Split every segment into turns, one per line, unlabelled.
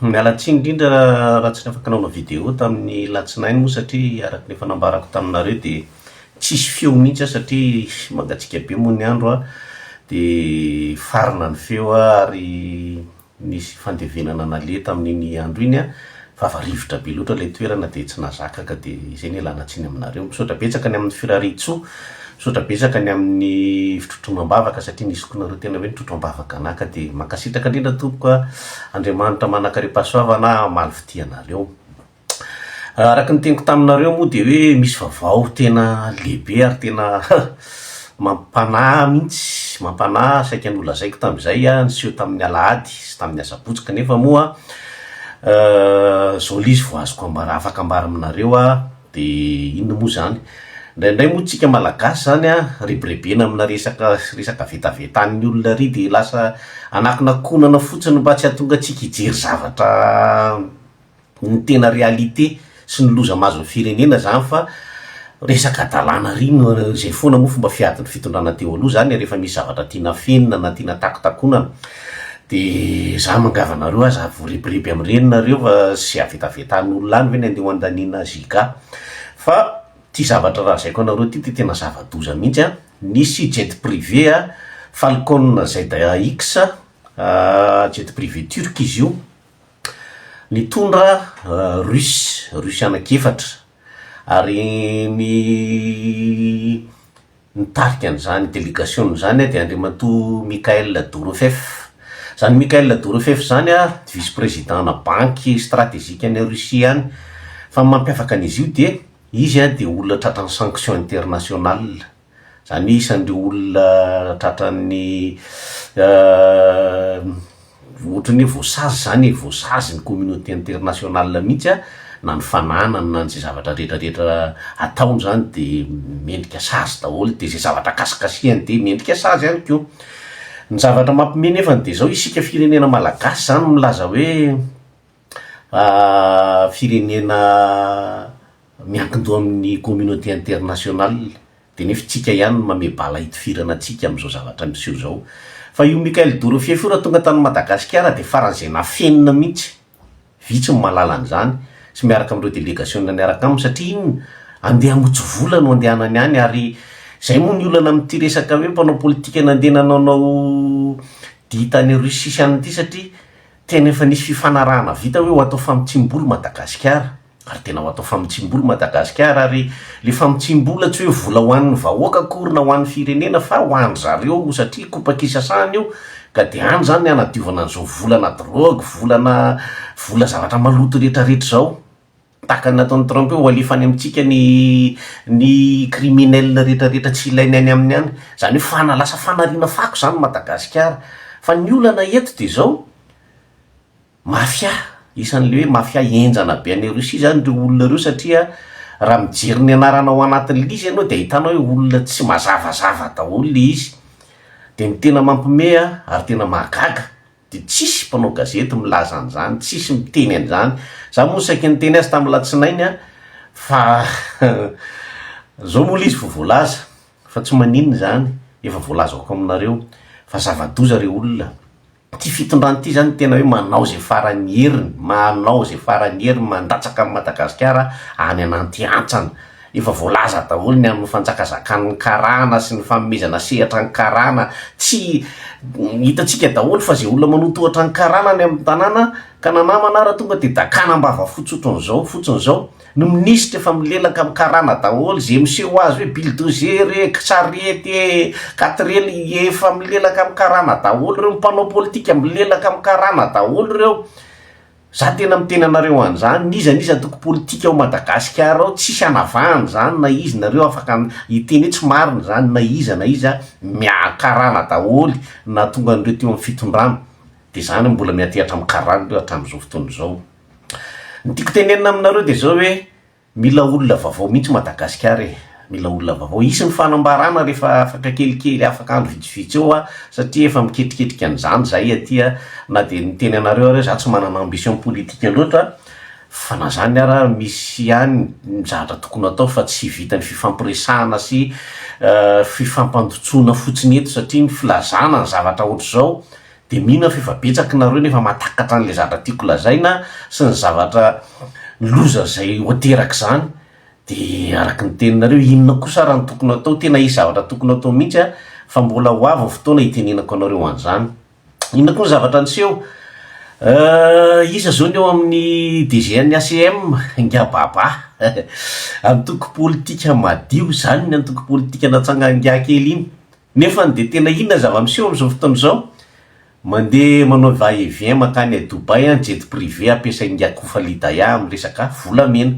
Miala tsiny indrindra raha tsy afaka nanao vidéo tamin'ny alatsinainy moa satria araka ny efa nambarako taminareo dia tsisy feo mihitsy aho satria mangatsiaka be moa ny andro an, dia farana ny feo ary nisy fandevenana naleha tamin'iny andro iny an, vava rivotra be loatra ilay toerana dia tsy nazaka ka dia izay no ialana tsiny aminareo. Misaotra betsaka ny amin'ny firarian-tsoa Misaotra betsaka ny amin'ny fitrotroana am-bavaka satria ny zokinareo tena hoe nitrotro am-bavaka anaka dia mankasitraka indrindra tompoko a! Andriamanitra manakaripahasoavana hamaly fitia anareo. Araka ny teniko taminareo moa dia hoe misy vaovao tena lehibe ary tena mampanahy mihitsy, mampanahy saika nolazaiko tamin'izay a, niseho tamin'ny alahady sy tamin'ny asabotsy kanefa moa izao ilay izy vao azoko ambara, afaka ambara aminareo a! De inona moa zany? Indraindray moa tsika malagasy zany an, rebirebena amina resaka resaka vetaveta an'ny olona ary de lasa anakonakonana fotsiny mba tsy hahatonga antsika hijery zavatra ny tena réalité sy ny loza mahazo ny firenena zany fa resaka adalana ary no zay foana moa fomba fiadin'ny fitondrana teo aloha zany e, rehefa misy zavatra tiana afenina na tiana takotakonana. Dia za mangava anareo aza ary voariboriby amin'ireny nareo fa tsy avetavetan'olona any ve ny andeha ho andaniana Giga? Fa ity zavatra lazaiko anareo ity dia tena zava-doza mihitsy an! Nisy jet privé a, Falcon ZAX, jet privé turc izy io, nitondra Russe, Russe anaky efatra, ary ny Nitarika an'izany delegasiona izany dia Andriamatoa Michael Dorofeeff. Izany Michael Dorofeeff izany dia vice-président-na Banky Strategikan'i Russie any. Fa ny mampiavaka an'izy io dia izy dia olona tratran'ny sanction international. Izany hoe isan'ireo olona tratran'ny Ohatran'ny hoe voasazy izany e, voasazy ny communauté internationale mihitsy a, na ny fananany na izay zavatra rehetra rehetra ataony izany dia mendrika sazy daholo, dia izay zavatra kasikasihany dia mendrika sazy ihany koa. Ny zavatra mampiomehy nefany dia izao, isika firenena malagasy izany milaza hoe, firenena miankin-doha amin'ny communauté internationale dia nefa itsika ihany no mamehy bala hitifirana antsika amin'izao zavatra miseho izao. Fa io Michael Dorofieify io raha tonga tany Madagasikara dia faran'izay nafenina mihitsy, vitsy ny mahalala an'izany, sy miaraka amin'ireo delegasiona niaraka aminy satria inona? Andeha hamotsy vola no andehanany any ary izay moa ny olana amin'ity resaka hoe mpanao politika nandeha nanaonao dihy tany Russie sy any ity satria Tena efa nisy fifanarahana vita hoe ho atao famotsiam-bola Madagasikara ary tena ho atao famotsiam-bola Madagasikara ary le famotsiam-bola tsy hoe vola ho an'ny vahoaka akory na ho an'ny firenena fa ho an-dry zareo satria kopakisasahana io ka dia any izany ny hanadiovana an'izao volana drogue, volana vola zavatra maloto rehetrarehetra izao. tahaka ny nataon'i Trump io, hoalefany amintsika ny ny criminels retraretra tsy ilainy any aminy any, zany hoe fana, lasa fanariana fako zany Madagasikara, fa ny olana eto dia zao, mafia, isan'le hoe mafia henjana be any Russie zany ireo olona ireo satria raha mijery ny anarana ao anatin'le izy ianao dia ahitanao hoe olona tsy mazavazava daholo le izy, dia ny tena mampime ary tena mahagaga Dia tsisy mpanao gazety milaza an'izany, tsisy miteny an'izany. Izaho moa saiky niteny azy tamin'ny alatsinainy aho fa izao moa ilay izy vao voalaza fa tsy maninona izany, efa voalazako aminareo fa zava-doza ireo olona. Ity fitondrana ity izany tena hoe manao izay faran'ny heriny, manao izay faran'ny heriny mandatsaka an'i Madagasikara any ananty hantsana. Efa voalaza daholo ny amin'ny fanjakazakan'ny karana sy ny fanomezana sehatra ny karana tsy hitantsika daholo fa izay olona manotohatra ny karana any amin'ny tanàna ka na namana ara tonga dia dakana ambava fotsy otran'izao fotsiny izao ny minisitra efa milelaka amin'ny karana daholo izay miseho azy hoe bildozer e sarety e katrely efa milelaka amin'ny karana daholo ireo ny mpanao politika milelaka amin'ny karana daholo ireo Za tena miteny anareo an'izany, n'iza n'iza antoko politika ao Madagasikara ao, tsisy anavahana izany na izy, nareo afaka hiteny hoe tsy marina izany na iza na iza, miaha karana daholo nahatonga an'ireo teo amin'ny fitondrana, dia izany no mbola miantehatra amin'ny karana ireo hatramin'izao fotoana izao. Ny tiako tenenina aminareo dia izao hoe, Mila olona vavao mihitsy Madagasikara e! Mila olona vavao. Hisy ny fanambarana rehefa afaka kelikely, afaka andro vitsivitsy eo aho, satria efa miketriketrika an'izany izahay aty a! Na dia niteny anareo aho hoe izaho tsy manana ambition politika loatra, fa na izany ara misy ihany ny zavatra tokony hatao fa tsy vitan'ny fifampiresahana sy fifampandotsoana fotsiny eto satria ny filazana ny zavatra ohatr'izao Dia mino aho fa efa betsak nareo no efa mahatakatra an'ilay zatra tiako lazaina sy ny zavatra loza izay ho aterak izany dia araka ny teninareo inona kosa ara no tokony atao tena hisy zavatra tokony atao mihitsy a fa mbola ho avy ny fotoana hitenenako anareo an'izany inona koa ny zavatra niseho eh, iza izao ny eo amin'ny DGN ACM ingababa antoko politika madio izany ny antoko politika natsanga ingaha kely iny Nefany dia tena inona ny zava-miseho amin'izao fotoana izao? Mandeha manao va et vient mankany à Dubaï an, jet privé ampiasain'i Yakufa Lidaya amin'ny resaka volamena.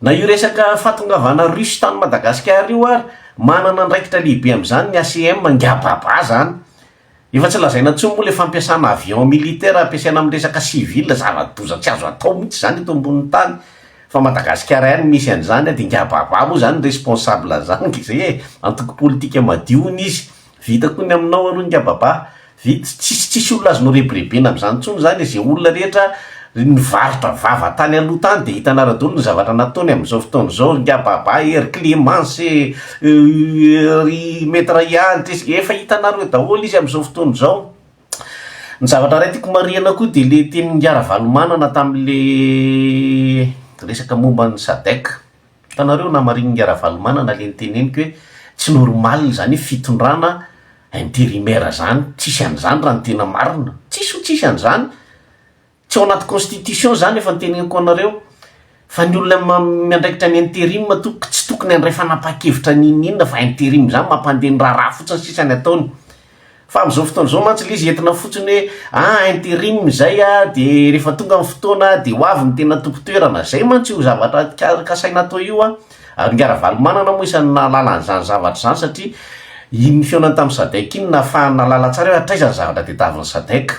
Na io resaka fahatongavana Russe tany Madagasikara io ary, manana andraikitra lehibe amin'izany ny ACM, ngiababa zany. Efa tsy lazaina intsony moa ilay fampiasana avion militaire ampiasaina amin'ny resaka civil, zava-doza tsy azo atao mihitsy izany eto ambonin'ny tany, fa Madagasikara ihany no misy an'izany an, dia ngababab moa izany responsable an'izany nga izay e, antoko politika madio hono izy, vita koa ny aminao aloha ngababab, vita, tsisy tsisy olona azo norebirebena amin'izany intsony izany e, izay olona rehetra Ry nivarotra vava tany aloha tany dia hitanareo daholo ny zavatra nataony amin'izao fotoana izao ry ngababa ee, ry clemence ee, ry maitre ihany ity sy, efa hitanareo daholo izy amin'izao fotoana izao. Ny zavatra iray tiako marihana koa dia le tenin'i Ngah Ravalomanana tamin'le resaka momba ny sadec, hitanareo namarinin'i Ngah Ravalomanana le niteneniko hoe tsy normal zany fitondrana intérimaire zany, tsisy an'izany raha ny tena marina, tsisy ho tsisy an'izany, Tsy ao anaty constitution izany efa noteneniko anareo fa ny olona miandraikitra ny interim tompoko tsy tokony handray fanapahan-kevitra n'inon'inona fa interim izany mampandeha ny raharaha fotsiny sisa ny ataony fa amin'izao fotoana izao mantsy ilay izy entina fotsiny hoe ah interim izay ah dia rehefa tonga ny fotoana dia ho avy ny tena tompon-toerana, izay mantsy io zavatra kasaina atao io an! Ary Ingahy Ravalomanana moa isan'ny nahalala an'izany zavatra izany satria iny fihaonany tamin'ny Sadec iny nahafahany nahalala tsara hoe hatraiza ny zavatra tadiavin'ny Sadec.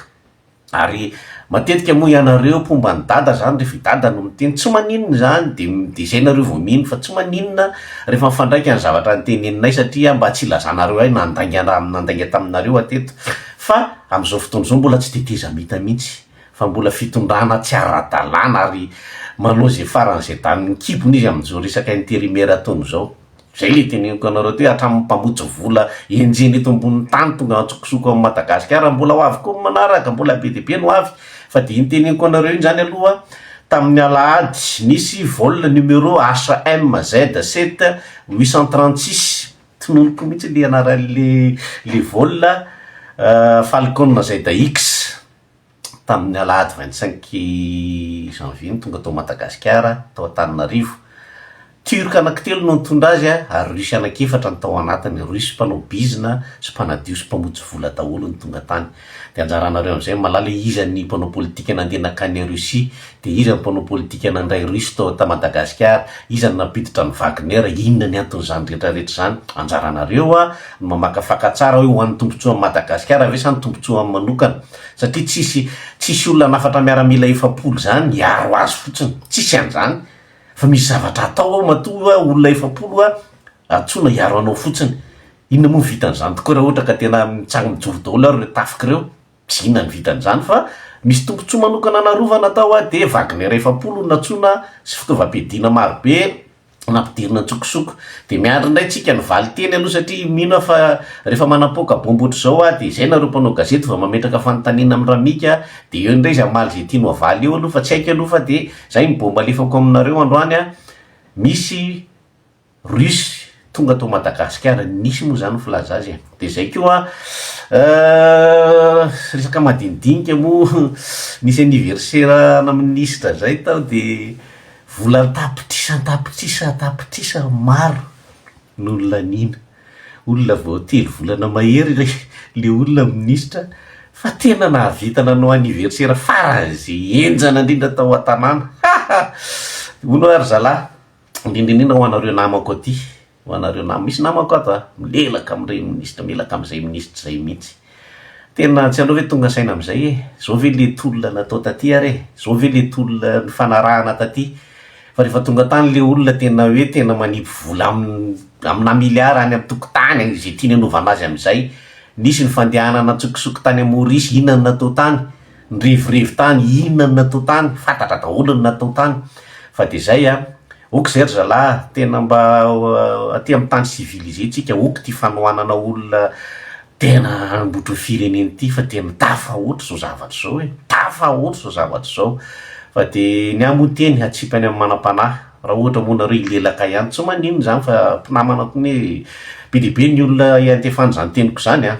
Ary matetika moa ianareo mpomba an'i dada izany rehefa i dada no miteny tsy maninona izany dia dia izay nareo vao mino fa tsy maninona rehefa mifandraika ny zavatra noteneninay satria mba tsy hilazanareo hay nandainga raha nandainga taminareo hatreto fa amin'izao fotoana izao mbola tsy tetezamita mihitsy fa mbola fitondrana tsy ara-dalàna ary manao izay faran'izay danin'ny kibony izy amin'izao resaka intérimaire ataony izao. Zay le teneniko anareo ty hatramin'ny mpamotsy vola enjehina eto ambonin'ny tany tonga antsokosoko am Madagasikara mbola ho avy koa ny manaraka mbola be dia be no ho avy fa dia iny teneniko anareo iny zany aloha tamin'ny alahady nisy vol numero HMZ 7 836 tsy nonoko mihitsy le anaran'le le vol Falcon ZX. tamin'ny alahady vingt cinq janvier no tonga tao Madagasikara, tao Antananarivo. Turc anankitelo no nitondra azy ary Russe anankiefatra no tao anatiny. Russe mpanao bizina sy mpanadio sy mpamotsy vola daholo no tonga tany. Dia anjaranareo amin'izay mahalala hoe iza ny mpanao politika nandeha nankany Russie? Dia iza ny mpanao politika nandray Russe tao ta Madagasikara? Iza no nampiditra ny Wagner? Inona ny anton'izany rehetrarehetra izany? Anjaranareo ny mamakafaka tsara hoe ho an'ny tombontsoan'i Madagasikara ve sa ny tombontsoany manokana? satria tsisy tsisy olona hanafatra miaramila efapolo zany hiaro azy fotsiny, tsisy an'zany fa misy zavatra hatao ao matoa oa olona efapolo oa antsoina hiaro anao fotsiny, inona moa ny vitan'zany tokoa raha ohatra ka tena mitsang mijoro daholo ary reo tafika ireo, tsy inona ny vitan'zany fa misy tombotsoa manokana narovana atao oa dia wagner efapolo no nantsoina sy fitaovam-piadiana marobe, nampidirina an-tsokosoko. Dia miandry indray tsika ny valin-teny aloha satria mino aho fa rehefa manapoaka bomba ohatr'izao aho dia izay nareo mpanao gazety vao mametraka fanontaniana amin'i Ramika dia eo indray izy hamaly izay tiany ho avaly eo aloha fa tsy haiko aloha fa dia izay ny bomba alefako aminareo androany an, misy Russe tonga tao Madagasikara, nisy moa izany ny filaza azy e! dia izay koa an, resaka madinidinika moa nisy anniversaire ana minisitra izay tao dia. Vola an-tapitrisa an-tapitrisa an-tapitrisa maro no nolaniana. Olona vao telo volana mahery ilay ilay olona minisitra fa tena nahavita nanao anniversaire faran'izay henjana indrindra tao an-tanàna. Ha ha! Hono aho ry zalahy, indrindra indrindra ho anareo namako aty ho anareo namana. Misy namako ato a, milelaka amin'ny reny minisitra, milelaka amin'izay minisitra izay mihitsy. Tena tsy hainao ve tonga saina amin'izay e? Izao ve ilay tolona natao taty ary e? Izao ve ilay tolona nifanarahana taty? Fa rehefa tonga tany ilay olona tena hoe tena manipy vola amin'ny aminà miliara any an-tokotany any, izay tiany hanaovana azy amin'izay. Nisy ny fandehanana an-tsokosoko tany Maorisy, inona no natao tany? Nirevorivo tany inona ny natao tany, fantatra daholo ny natao tany fa dia zay an! ok zay ry zalahy a! tena mba aty amin'ny tany civilisé tsika ok ity fanohanana olona tena hanamboatra ny firenena ity fa tena tafahoatra izao zavatra izao e! tafahoatra izao zavatra izao fa dia ny ahy moa teny hatsipany amin'ny manam-panahy raha ohatra moa nareo hilelaka ihany tsy maninona izany fa mpinamana koa anie be dia be ny olona iantefan'izany teniko izany an!